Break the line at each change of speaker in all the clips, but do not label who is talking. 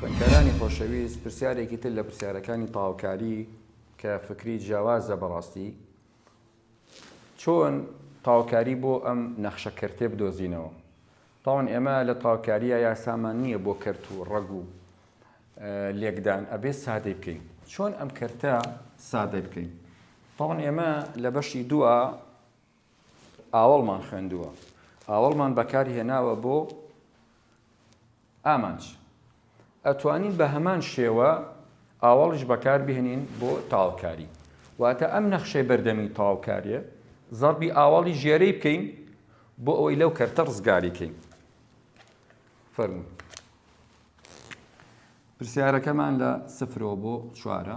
خوێندکارانی خۆشەویست پرسیارێکی تر لە پرسیارەکانی تاوکاری کە فکری جیاوازە بەڕاستی چۆن تاوکاری بۆ ئەم نەخشە کەرتێ بدۆزینەوە تاوان ئێمە لە تاوکاریە یاسامان نییە بۆ کەرت و ڕەگ و لێکدان ئەبێ سادەی بکەین چۆن ئەم کەرتە سادە بکەین تاوان ئێمە لە بەشی دووە ئاوەڵمان خوێندووە، ئاوەڵمان بەکار هێناوە بۆ ئامانج. ئەتوانین بە هەمان شێوە ئاوەڵیش بەکار بهێنین بۆ تاوکاری. واتە ئەم نەخشەی بەردەمی تاوکارییە، زەربی ئاوەڵی ژێرەی بکەین بۆ ئەوەی لەو کەرتە ڕزگاری کەین. فەرموو. پرسیارەکەمان لە سفرەوە بۆ چوارە.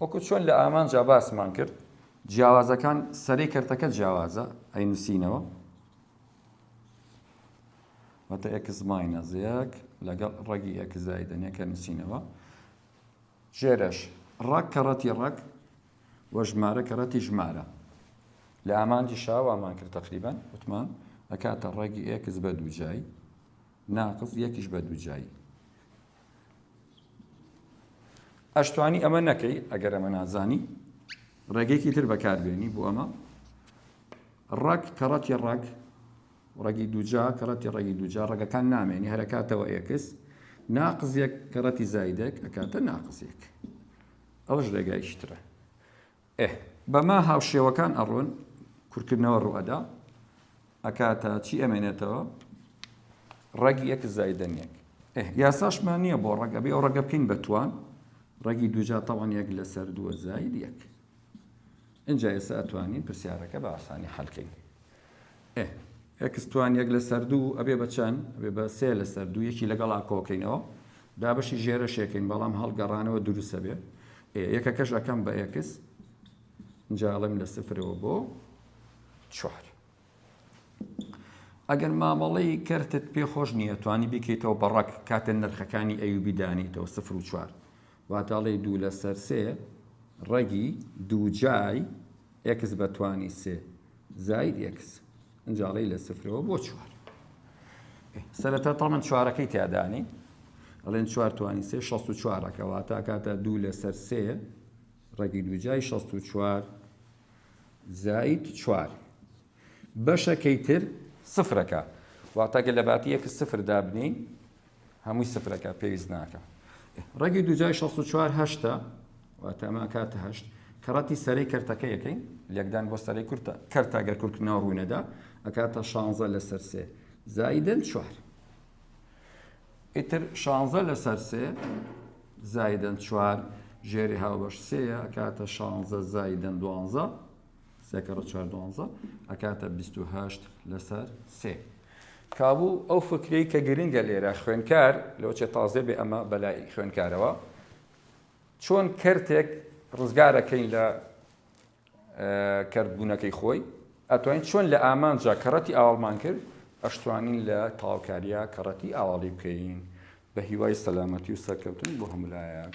وەکو چۆن لە ئامانجا باسمان کرد جیاوازەکان سەرەی کەرتەکە جیاوازە ئەی نووسینەوە واتە ئەکس ماینەس یەک لەگەڵ ڕەگی ئەکس زایدەنە کە نووسینەوە ژێرەش ڕەگ کەڕەتی ڕەگ وە ژمارە کەڕەتی ژمارە لە ئامانجی شاوامان کرد تقریبان وتمان ئەکاتە ڕێگی ئێکس بە دووجایی ناقز یەکیش بە دووجایی ئەشتوانی ئەمە نەکەی ئەگەر ئەمە نازانی ڕێگەیەکی تر بەکاربێنی بۆ ئەمە ڕەک کەڕەتی ڕەک ڕەگی دوجا کەڕەتی ڕێگی دوجا ڕەگەکان نامێنی هەرکاتەوە ئێکس ناقزیەک کەڕەتی زایدێک ئەکاتە ناقزیەک ئەوش ڕێگایشترە ئه بەمە هاوشێوەکان ئەڕۆن کورکردنەوە ڕوئەدا ئەکاتە چی ئەمێنێتەوە ڕەگی ئێکس زایدەن یەک ئه یاساشمان نییە بۆ ڕەگ ئەبێ ئەو ڕەگە بکەین بە توان ڕەگی دووجا تەوان یەک لەسەر دووە زاید یەک ئینجا ئێستا ئەتوانین پرسیارەکە بە ئاسانی حەلکەین ئێ ئێکس توان یەک لەسەر دوو ئەبێ بە چەند ئەبێ بە سێ لەسەر دوو یەکی لەگەڵا کۆکەینەوە دابەشی ژێرەشێکین بەڵام هەڵگەڕانەوە دروستە بێ ئێ یەکەکەش ئەەکەم بە ئێکس جاڵم لە سفرەوە بۆ چوار ئەگەر مامەڵەی کەرتت پێ خۆش نییە توانی بکەیتەوە بەڕەک کاتێن نرخەکانی ئەوبی دانیتەوە سفر و چوار واتە ئەڵێی دوو لەسەر سێ ڕەگی دووجای ئێکس بە توانی سێ زاید ئێکس ئەنجا ئەڵێی لە سفرەوە بۆ چوار سەرەتا تەمەن چوارەکەی تیادانی ئەڵێن چوار توانی سێ شەست و چوارەکە واتە کاتە دوو لەسەر سێ ڕەگی دووجای شەست و چوار زاید چوار بەشەکەی تر سفرەکە واتەگە لە باتی یەک سفر دابنین هەمووی سفر ئەکات پێویست ناکا ڕەگی دووجای شەست و چوار هەشتە واتە ئەمە ئەکاتە هەشت کە ڕەتی سەرەی کەرتەکە یەکەین لێکدان بۆ سەرەی کورتە کەرتا گەر کورتکردنەوە ڕووی نەدا ئەکاتە شانزە لەسەر سێ زایدن چوار ئیتر شانزە لەسەر سێ زایدن چوار ژێری هاوبەش سێە ئەکاتە شانزە زایدن دوانزە سێ کەڕە چوار دوانزە ئەکاتە بیست و هەشت لەسەر سێ کابوو ئەو فکرەی کە گرنگە لێرە خوێنکار لەو چێ تازێ بێ ئەمە بەلای خوێنکارەوە چۆن کەرتێک ڕزگارەکەین لە کردبوونەکەی خۆی ئەتوانین چۆن لە ئامانجا کەڕەتی ئاڵمان کرد ئەشتوانین لە تاوکاریا کەڕەتی ئاواڵی بکەین بەهیوای سەلامەتی و سەرکەوتن بۆ هەموو لایەک.